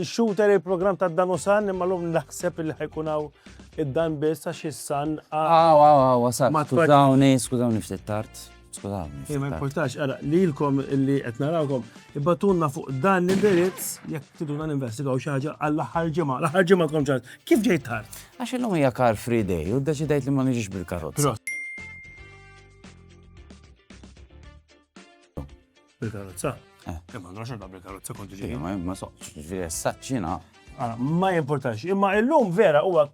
Il-shooter il-programm ta' dan u san, imma l-lum naħseb li ħajkun hawn id-dan biss għax is-san. Aw, aw, aw, sa, skużawni, skużawni ftit tard. Skużawni. Eh, ma importax, ara, li l-kom li qed narawkom, ibbatunna fuq dan l-indirizz, jekk tiduna ninvestigaw xi ħaġa għall-aħħar ġimgħa, l-aħħar ġimgħa kom ċar. Kif ġejt tard? Għax illum hija car free day u ddeċidejt li ma niġix bil-karozza. Bil-karozza? Eh. eh ma għandhom xorta bil-karozza konti ġej. Ma ma soqx, ġviri s-saċċina. Ah, ma jimportax, imma illum vera huwa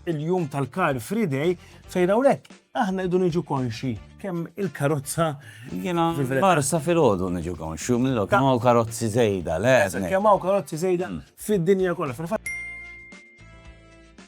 il-jum tal-Car Free Day fejn hawnhekk aħna idu niġu konxi kemm il-karozza jiena barsa fil-ħodu niġu konxi mill kemm hawn karozzi żejda, le. Kemm hawn karozzi żejda mm. fid-dinja kollha.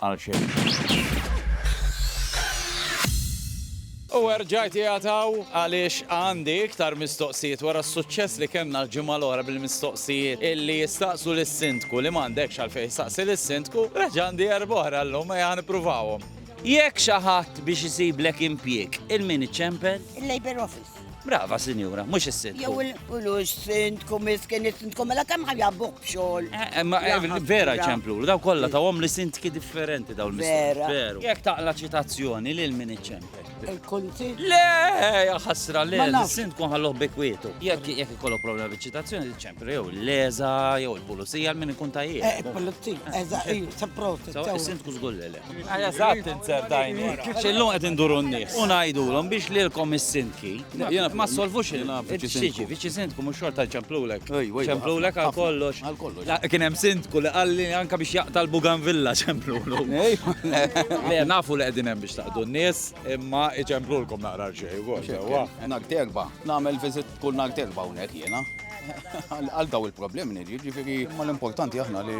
Għal xejn. U erġajt jgħataw għaliex għandi iktar mistoqsijiet wara s-suċċess li kellna l-ġimgħa l-oħra bil-mistoqsijiet illi jistaqsu lis-sindku li m'għandekx għalfejn jistaqsi lis-sindku, reġa' għandi erba' oħra llum ejja nippruvawhom. Jekk xi ħadd biex isiblek impjieg, il-min iċempel? Il-Labour Office. Brava, sinjura, mux is-sindku. Jew il-kulux sindku, miskin is-sindku, mela kemm ħajabbuħ bxol. Eh, eh, eh, vera ċemplu, daw kolla ta' għom li sindki differenti daw l-miskin. Vera. Jek taqla ċitazzjoni li l-min iċempel. Il-kunti? Le, jaxasra, le, l-sindku ħalluħ bekwietu. Jek jek kollu problema bi ċitazzjoni, ċempel, jew l-leza, jew il-pulizija, l-min ikun tajjeb. Eh, pulizija, eżaqi, sa' prosti. Sindku zgullele. Eżatt inzer dajni. Xillum qed induru n-nies. U ngħidulhom biex lilkom is-sindki. Ma solvux il Xiġi, viċi sindku mhux xorta ċemplulek. Ċemplulek għal kollox. Kien hemm sindku li qalli anka biex jaqta' l-Bugan Villa ċemplulu. Le nafu li qegħdin hemm biex taqdu n-nies, imma iċemplulkom naqra xejn ukoll sewwa. Nhar terba, nagħmel viżit kull nhar terba hawnhekk jiena. Għal daw il-problemi, jiġifieri ma l-importanti aħna li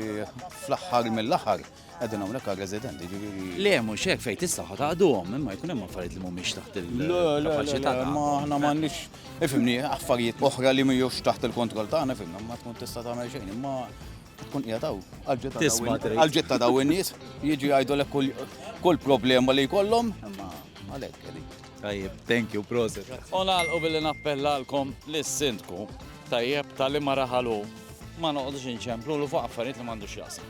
fl-aħħar mill-aħħar Għedin għamlek għal residenti, ġiviri. Le, mux hekk fejn tista' ħataqduhom, imma jkun hemm affarijiet li mhumiex taħt il-kapaċità. Ma aħna m'għandniex, ifimni, affarijiet oħra li mhijiex taħt il-kontroll tagħna, ifimna, ma tkun tista' tagħmel xejn, imma tkun qiegħdaw għal-ġitta daw in-nies, jiġi jgħidulek kull problema li jkollhom, imma għalhekk qegħdin. Tajjeb, thank you, proset. U nagħlqu billi nappellalkom lis-sindku tajjeb tal-imaraħalu Ma noqgħodux inċemplu fuq affarijiet li m'għandux x'jaqsam.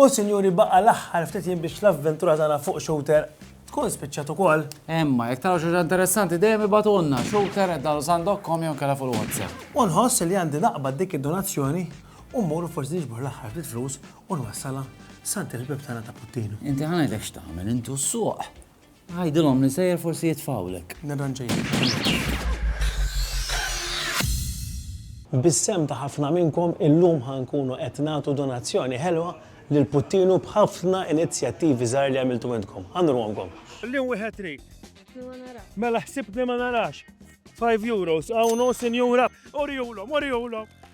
U sinjuri baqa l-aħħar ftit jien biex l-avventura tagħna fuq shooter tkun spiċċat ukoll. Emma, jekk taraw xi interessanti dejjem ibatulna shooter qed dalu sandokkom jew kellha fuq WhatsApp. U nħoss li għandi naqbad dik id-donazzjoni u mmur forsi niġbor l-aħħar ftit flus u nwassalha sant il-bib tagħna ta' Puttinu. Inti ħanedek x'tagħmel intu s-suq. Għidilhom li nsejjer forsi jitfgħulek. Nirranġajlek. Bis-sehem ta' ħafna minnkom illum ħa nkunu qed nagħtu donazzjoni ħelwa lil Puttinu b'ħafna inizjattivi żgħar li għamiltu intkom. Ħa nurhomkom. Illum wieħed irid. Ħsibtni ma narax. Mela ħsibtni ma narax. Five euros, hawn hu sinjura. Urihulhom, urihulhom.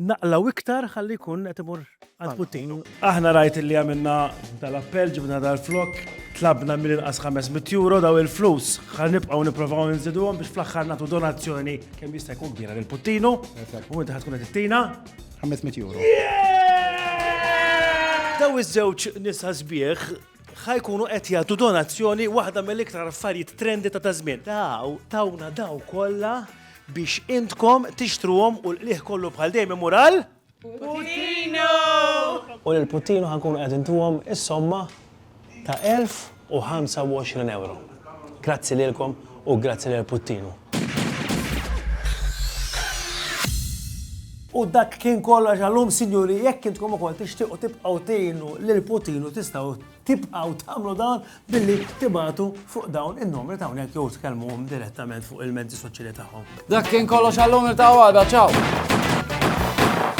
Naqlaw iktar ħalli jkun qed imur għal puttin. Aħna rajt li għamilna tal-appell ġibna dal-flok, tlabna mill-inqas 500 euro daw il-flus ħan nibqgħu nipprovaw nżiduhom biex fl-aħħar nagħtu donazzjoni kemm jista' jkun kbira lil Puttinu. U inti ħad tkun qed ittina 500 euro. Daw iż-żewġ nisa sbieħ ħajkunu qed jagħtu donazzjoni waħda mill-iktar affarijiet trendi ta' tażmien. Daw tawna daw kollha biex intkom tixtruhom u l-qligħ kollu bħal dejjem imur għal Putino! U lil Putino ħa nkunu qed intuhom is-somma ta' 1025 ewro. Grazzi lilkom u grazzi lil Putino. U dak kien kollox għallum, sinjuri, jekk intkom ukoll tixtiequ tibqgħu tgħinu lil Putinu tistgħu tibqgħu tagħmlu dan billi tibagħtu fuq dawn in-numri ta' hawnhekk jew tkellmuhom direttament fuq il-mezzi soċjali tagħhom. Dak kien kollox għal-lum, niltaqgħu għada, ċaw!